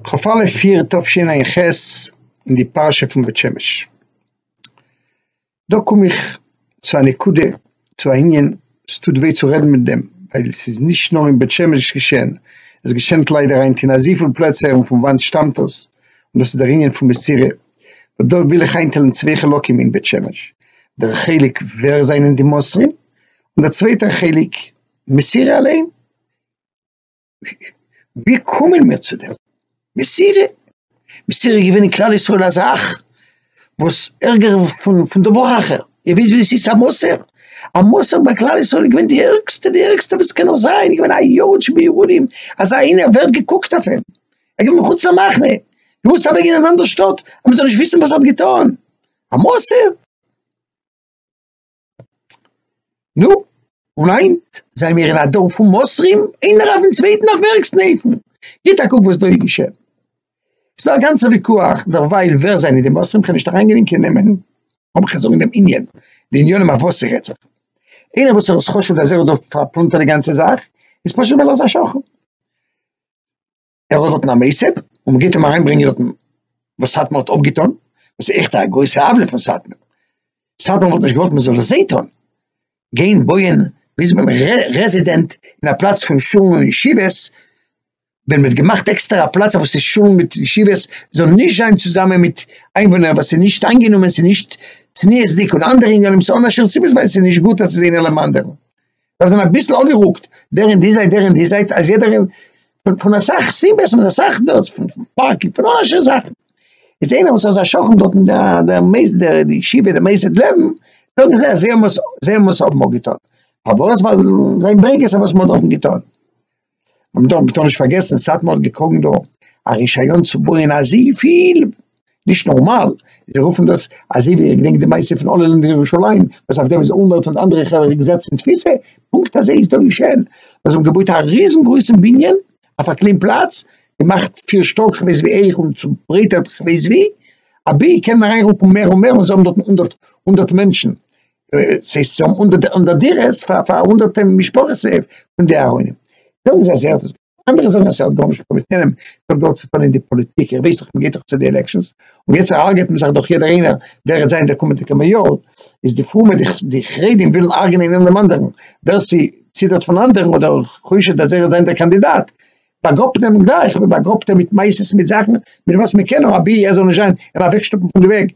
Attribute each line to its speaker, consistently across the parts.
Speaker 1: כ'האף אלע פיר תשע"ח אין די פרשה פון בית שמש. דא קום איך צו א נקודה, צו א ענין, עס טוט וויי צו רעדן מיט דעם, ווייל עס איז נישט נאר אין בית שמש געשען, עס געשענט ליידער היינט אין אזויפיל פלעצער און פון וואנט שטאמט דאס? און דאס איז דער ענין פון מסירה, און דא וויל איך איינטיילן צוויי חלקים אין בית שמש, דער חלק ווער זענען די מוסרים, און דער צווייטער חלק מסירה אליין, ווי קומען מיר צו דעם? מסירה, מסירה איז געווען אין כלל ישראל א זאך וואס ערגער פון פון דבר אחר, איר וויסט ווי עס איז א מוסר? א מוסר ביי כלל ישראל איז געווען די ערגסטע, די ערגסטע וואס עס קען נאר זיין, געווען א יאוש בירודים, אזא איינער ווערט געקוקט אויף אים, ער איז געווען מחוץ למחנה, געמוזט אוועק גיין אין אנדערע שטאט אז מען זאל נישט וויסן וואס ער האט געטון, א מוסר. נו, און היינט זענען מיר אין א דור פון מוסרים, איינער אויפן צווייטן אויף ווער ערגסטן אופן, גיט א קוק וואס דא איז געשען, ס'דא א גאנצע ויכוח דערווייל ווער זענען די מוסרים, כ'בין נישט אריינגענומען קיין נעמען, אבער כ'קען זאגן דעם ענין, די עניינים אויף וואס ס'רעדט זיך, איינער וואס ער האט חשד אז ער האט דא פארפלאנטערט די גאנצע זאך, איז פשוט ווייל ער איז א שקרן. ער האט דארטן א מוסד און מען גייט אים אריינברענגען דארטן וואס סאטמאר האט אפגעטון, וואס איז עכט א גרויסע עוולה פון סאטמאר, סאטמאר וואלט נישט געוואלט מען זאל עס זיי טון, גיין בויען ביז ביים רעזידענט אין א פלאץ פון שולן און ישיבות, ווען מען האט געמאכט עקסטער א פלאץ וואס איז שולן מיט ישיבות זאל נישט זיין צוזאמען מיט איינוואוינער וואס איז נישט איינגענומען, ס'נישט צניעות'דיג און אנדערע עניינים, ס'איז אן א שום סיבה ווייל ס'נישט גוט אז ס'איז איינער לעבן אנדערן, זיי זענען אביסל אנגערוקט דער אין די זייט דער אין די זייט אז יעדער פון אסאך סיבות פון אסאך דאס פון פארק פון אלע אנשי זאכן איז איינער וואס איז א שכן דארט אין דער דער מייסד דער די ישיבה דער מייסד לעבן זאגן זיי אז זיי האבן עס זיי האבן עס האבן געטון פארוואס ווייל זיי ברענגען עס אז וואס מען האט דארטן געטון מען דארף ביטע נישט פארגעסן סאטמאר האט געקראגן דא א רישיון צו בויען אזויפיל, נישט נארמאל, זיי רופן דאס אזוי ווי איך געדענק די מעשה פון אלל אין ירושלים וואס אויף דעם איז אולמערט און די אנדערע חברה געזעצן אין תפיסה, פונקט אזוי איז דא געשען, זיי האבן געבויט א ריזן גרויסן בנין אויף א קליין פלאץ, געמאכט פיר שטאק כ'ווייס ווי אויך און צוברייטערט כ'ווייס ווי, אבי קען מען אריינרוקן מער און מער און זיי האבן דארטן הונדערט הונדערט מענטשן, סאיז צו האבן הונדערט דירות פאר פאר הונדערטע משפחות פון די ארוינים, זאגן זיי אז ער האט עס געטון, אנדערע זאגן אז עס האט גארנישט געטון מיט איהם, עס האט גאר צוטון אין די פאליטיק, ער ווייסט דאך מ'גייט דאך צו די עלעקשאנס, און יעצט הרג'עט מען זיך דאך יעדער איינער ווער וועט זיין דער קומענדיגער מעיאר, איז די פרומע די חרדים ווילן הרג'ענען איינער דעם אנדערן, ווער ס'ציטערט פון אנדערן אדער חושד אז ער וועט זיין דער קאנדידאט, באגראבט מען אים גלייך, מ'באגראבט אים מיט מעשות מיט זאכן מיט וואס מ'קען אים אבי ער זאל נישט זיין, אים אוועקשטופן פון די וועג,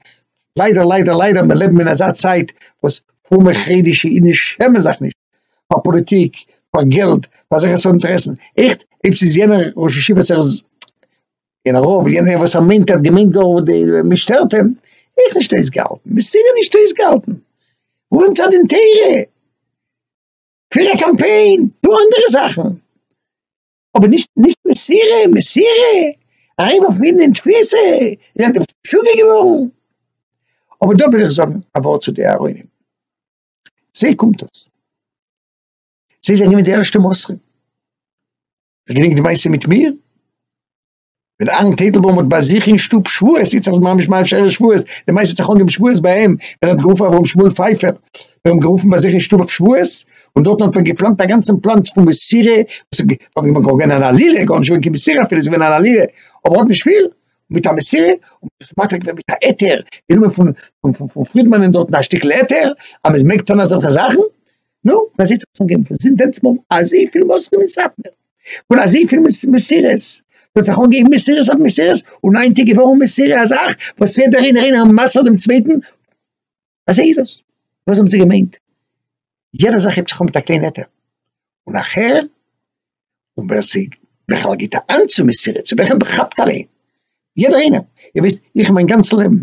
Speaker 1: ליידער ליידער ליידער מיר לעבן אין אזא צייט וואס פרומע חרדישע אידן שעמען זיך נישט פאר פאליטיק פאר געלט פאר אזעלכע סארט אינטערעסן עכט אויב ס'איז יענער ראש ישיבה ער איז און רוב יענער וואס ער מיינט ער האט געמיינט גאר מען שטערט אים עכט נישט אויסגעהאלטן מ'איז סיגער נישט אויסגעהאלטן ווארום צד אין תורה פיר א קאמפיין טו אנדערע זאכן. אבער נישט נישט מסירה מסירה אריין אויף אין תפיסה איז ענדערש משוגע געווארן אבער דא וויל איך זאגן א ווארט צו די אהרונים זיי קומט דאס זיי זענען געווען די ערשטע מוסרים איך געדענק די מעשה מיט מיר ווען אהרן טייטלבוים האט ביי זיך אין שטוב שבועות, איצט אז ממש ממש ערב שבועות, די מייסד האט זיך אנגעהויבן שבועות ביי אים, ווען ער האט גערופן אברהם שמואל פייפער, מיר האבן גערופן ביי זיך אין שטוב אויף שבועות, און דארטן האט מען געפלאנט א גאנצן פלאן פון מסירה, וואס איז געווען אן עלילה, גארנישט געווען קיין מסירה אפילו, עס איז געווען אן עלילה, אבער האט נישט פיל, מיט א מסירה, און מען האט עס מטריד געווען מיט א היתר, גענומען פון פון פרידמאנען דארטן א שטיקל היתר, אז מען מעג טון אזעלכע זאכן, נו, מ'זעט זיך צוזאמגערופן, זינט דענסמאל אזויפיל מוסרים אין סאטמער. פון אזויפיל מסירות, מען האט זיך אנגעהויבן מסירות אויף מסירות, און איין טאג געווארן מסירה אזאך וואס יעדער איינער איינער האט מסר'ט דעם צווייטן, אזוי איז דאס, וואס האבן זיי געמיינט, יעדע זאך הייבט זיך אן מיט א קליין עטרה, און נאכער, און ווער ס'איז בכלל געבט א האנט צו מסירות, צו וועלכע מען כאפט אליין, יעדער איינער, איר וויסט, איך מיין גאנץ לעבן,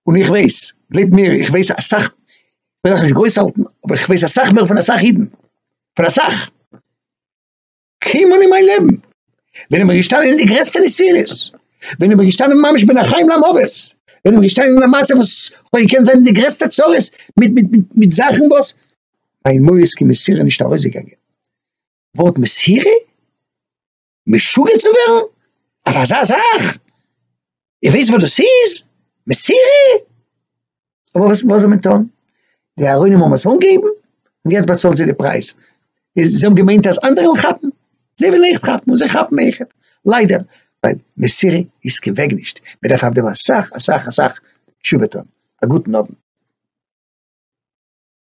Speaker 1: און איך ווייס, גלייבט מיר, איך ווייס אסאך, איך וויל אייך נישט גרויס האלטן, אבער איך ווייס אסאך מער פון אסאך אידן, פון אסאך. קיינמאל אין מיין לעבן, בין איך געשטאנען אין די גרעסטע נסיונות, בין איך געשטאנען ממש בין החיים למוות, בין איך געשטאנען אין א מצב וואס כ'האב געקענט זיין אין די גרעסטע צרות מיט מיט מיט מיט זאכן וואס מיין מויל איז קיין מסירה נישט ארויסגעגאנגען, ווארט מסירה? משוגע צו ווערן? אויף אזא זאך? איר ווייסט וואס דאס איז? מסירה? אבער וואס זאל מען טון? די אהרונים האבן עס אנגעהויבן, און יעצט באצאלן זיי די פרייז. זיי האבן געמיינט אז אנדערע וועלן כאפן, זיי וועלן עכט כאפן, און זיי כאפן עכט, ליידער, ווייל מסירה איז קיין וועג נישט, מען דארף אויף דעם אסאך אסאך אסאך תשובה טון. א גוטן אוונט.